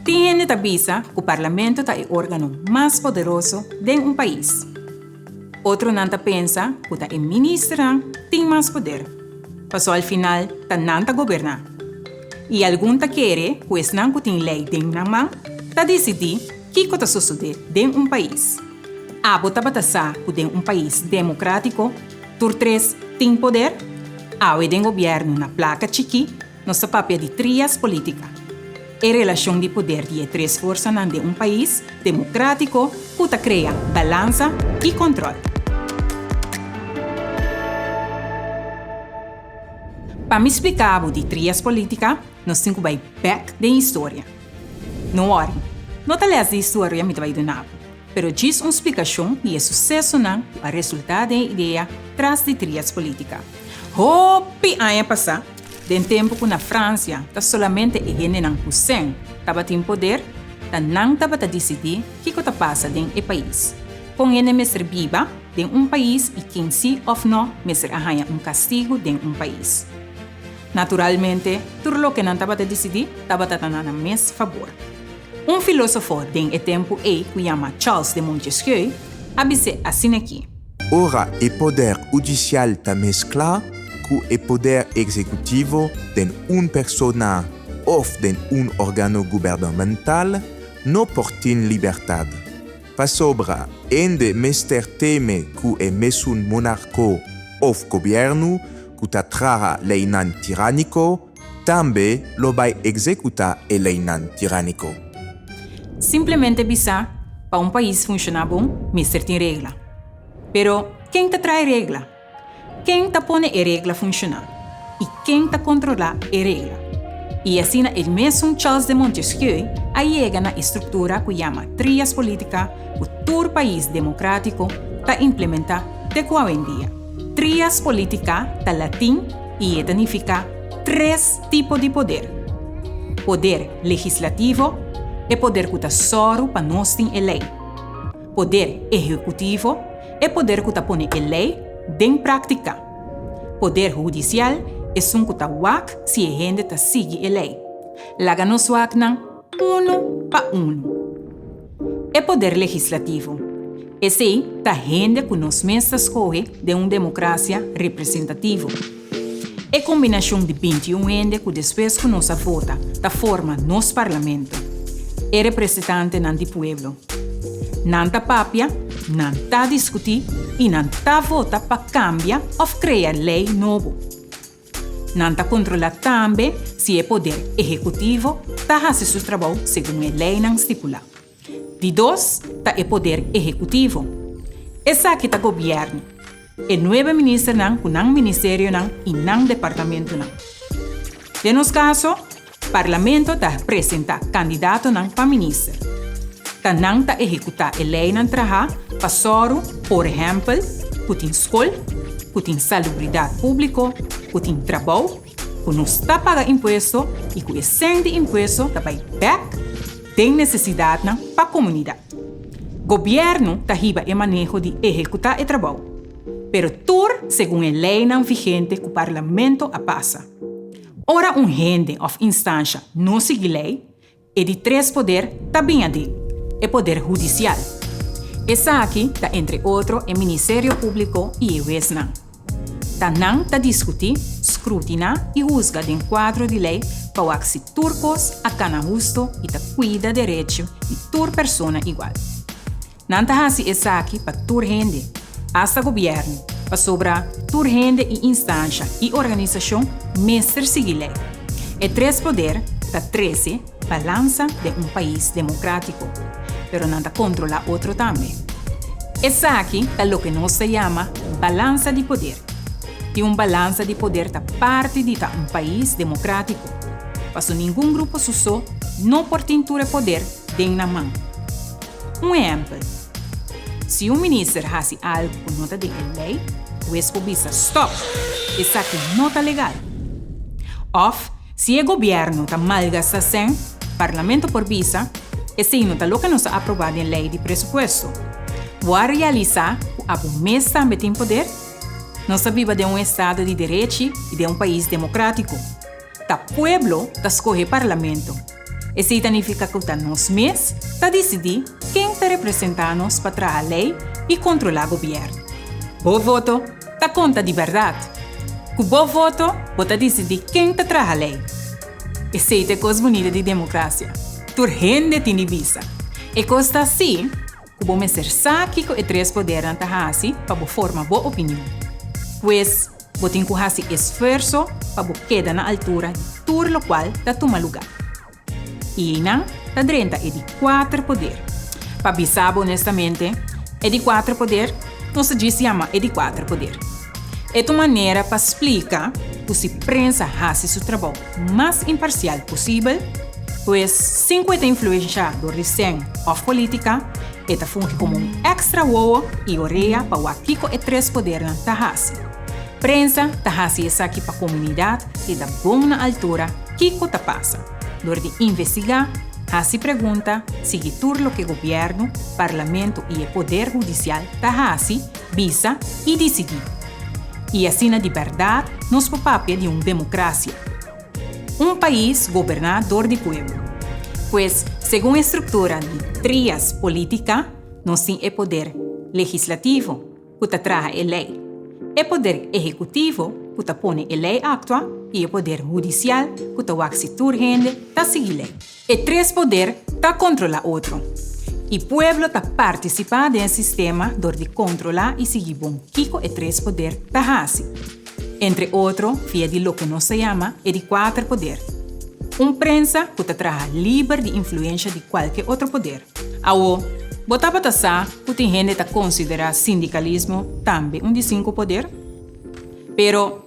Tin hende ta bisa ku parlamento ta e órgano mas poderoso den un pais. Otronan ta pensa ku ta e ministernan tin mas poder, paso al final ta nan ta goberná. I algun ta kere ku esnan ku tin lei den nan man ta disidí kiko ta sosodé den un pais. Abo tabata sa ku den un pais demokratiko tur tres tin poder? Awe den gobièrnu na plaka chikí, Nos ta papia di trias polítika, e relashon di poder di e tres forsanan den un pais demokratiko ku ta krea balansa i kòntròl. Pa mi spliká bo di trias polítika, nos tin ku bai bèk den historia. No wòri, no ta lès di historia mi ta bai duna bo, pero djis un splikashon di e susesonan ku a resultá den e idea tras di trias polítika. Hopi aña pasá, den tempu ku na Fransia ta solamente e hendenan ku sèn tabatin poder, ta nan tabata disidí kiko ta pasa den e pais, kon hende mester biba den un pais i ken sí òf nò mester a haña un kastigu den un pais. Naturalmente, tur lokenan tabata disidí tabata ta na nan mes fabor. Un filósofo den e tempu ei ku yama Charles de Montesquieu a bis'é asin'akí. Ora e poder udisial ta mesklá ku e poder ekzekutivo den un persona òf den un òrgano gubernamental no por tin libertat. Pasobra hende mester teme ku e mesun monarko òf gobièrnu ku ta traha leinan tirániko, tambe lo bai executá e leinan tiránico. Simplemente bisá, Pa un pais funshoná bon, mester tin regla. Pero, ken ta trae regla? Ken ta pone e regla funshoná? I ken ta controlá e regla? I asina el mesun Charles de Montesquieu a yega na e structura cu yama Trias Politica cu tur pais democratico ta implementá te cu awendia. Trias Politica ta latin. i e ta nifiká tres tipo di poder, poder legislativo, e poder ku ta sòru pa nos tin e lei, poder ehekutivo, e poder ku ta pone e lei den práktika, poder hudisial, esun ku ta wak si e hende ta sigui e lei. Laga nos waknan! Unu pa unu. E poder legislativo, esei ta hende ku nos mes ta skohe den un demokrasia representativo. E kombinashon di binti i un hende ku despues ku nos a vota ta forma nos parlamento, e represetantenan di pueblo. Nan ta papia, nan ta diskutí i nan ta vota pa kambia òf krea lei nobo. Nan ta kontrolá tambe si e poder ehekutivo ta hasi su trabou segun e leinan stipulá. Di dos ta e poder ehekutivo. Esaki ta gobièrnu, e nuebe ministernan ku nan ministerionan i nan departamentunan. Den nos kaso, Parlamento ta presentá kandidatonan pa minister. Ta nan ta ehekutá e leinan trahá pa sòru, por ehèmpel, ku tin skol, ku tin salubridat públiko, ku tin trabou, ku nos ta paga impuesto i ku e sènt di impuesto ta bai bèk den nesesidatnan pa komunidat. Gobièrnu ta hiba e maneho di ehekutá e trabou, pero tur segun e leinan vigente ku Parlamento a pasa. Ora un hende òf instansha no sigui lei, e di tres poder ta bin adin, e poder hudisial. Esaki ta entre otro e Ministerio Públiko i e wesnan. Ta nan ta diskutí, skrutiná i husga den kuadro di lei pa wak si tur kos a kana hustu i ta kuida derechi di tur persona igual. Nan ta hasi esaki pa tur hende, asta gobièrnu, pasobra tur hende i instansha i organisashon mester sigui lei. E tres poder ta trese balansa den un pais demokratiko, pero nan ta kontrolá otro tambe. Esaki ta loke nos ta yama balansa di poder, i un balansa di poder ta parti di ta un pais demokratiko, paso ningun grupo su so no por tin tur e poder den nan man. Un ehèmpel, Si un minister hasi algu ku no ta dentro di lei, hues por bisa, Stòp! Esaki no ta legal. Òf si e gobièrnu ta malgastá sèn, parlamento por bisa, Esei no ta loke nos a aprobá den lei di presupuesto. Bo a realisá ku abo mes tambe tin poder? Nos ta biba den un estado di derechi i den un pais demokratiko. Ta pueblo ta scohe parlamento. Esey ta nifica cu ta nos mes ta dicidi ken ta representa nos pa traha ley y controla gobierno. Bo voto ta conta di berdad. Cu bo voto bo ta dicidi ken ta traha ley. Esey ta e cos bunita di democracia. Tur hende tin di bisa. E cos ta así. Ku bo mester sa kiko e tres podernan ta hasi pa bo forma bo opinion. Pues, bo tin ku hasi esfuerso pa bo keda na altura di tur lokual ta tuma lugá. I einan ta drenta e di kuater poder. Pa bisa bo onestamente, e di kuater poder nos ta djis yama e di kuater poder. E ta un manera pa splika ku si prensa hasi su trabou. mas imparsial pusibel, pues sin ku e ta influensha dor di sèn òf polítika, e ta fungi komo un èkstra wowo i orea pa wak kiko e tres podernan ta hasi. Prensa ta hasi esaki pa komunidat keda bon na altura kiko ta pasa, dor di investigá, hasi pregunta, sigui tur loke gobièrnu, parlamentu i e poder hudisial ta hasi, Bisa i disidí. I asina di bèrdat nos por papia di un demokrasia. Un pais goberná dor di pueblo. Pues, segun e struktura di trias polítika, nos tin e poder legislativo, ku ta traha e lei, e poder ehekutivo, ku ta pone e lei aktua, i e poder hudisial, ku ta wak si tur hende ta sigui lei. E tres poder ta kontrolá otro, i pueblo ta partisipá den e sistema dor di kontrolá i sigui bon kiko e tres poder ta hasi, entre otro via di loke nos ta yama e di kuater poder. Un prensa ku ta traha liber di influensha di kualke otro poder. Awo, bo tabata sa ku tin hende ta konsiderá sindikalismo tambe un di sinku poder? Pero.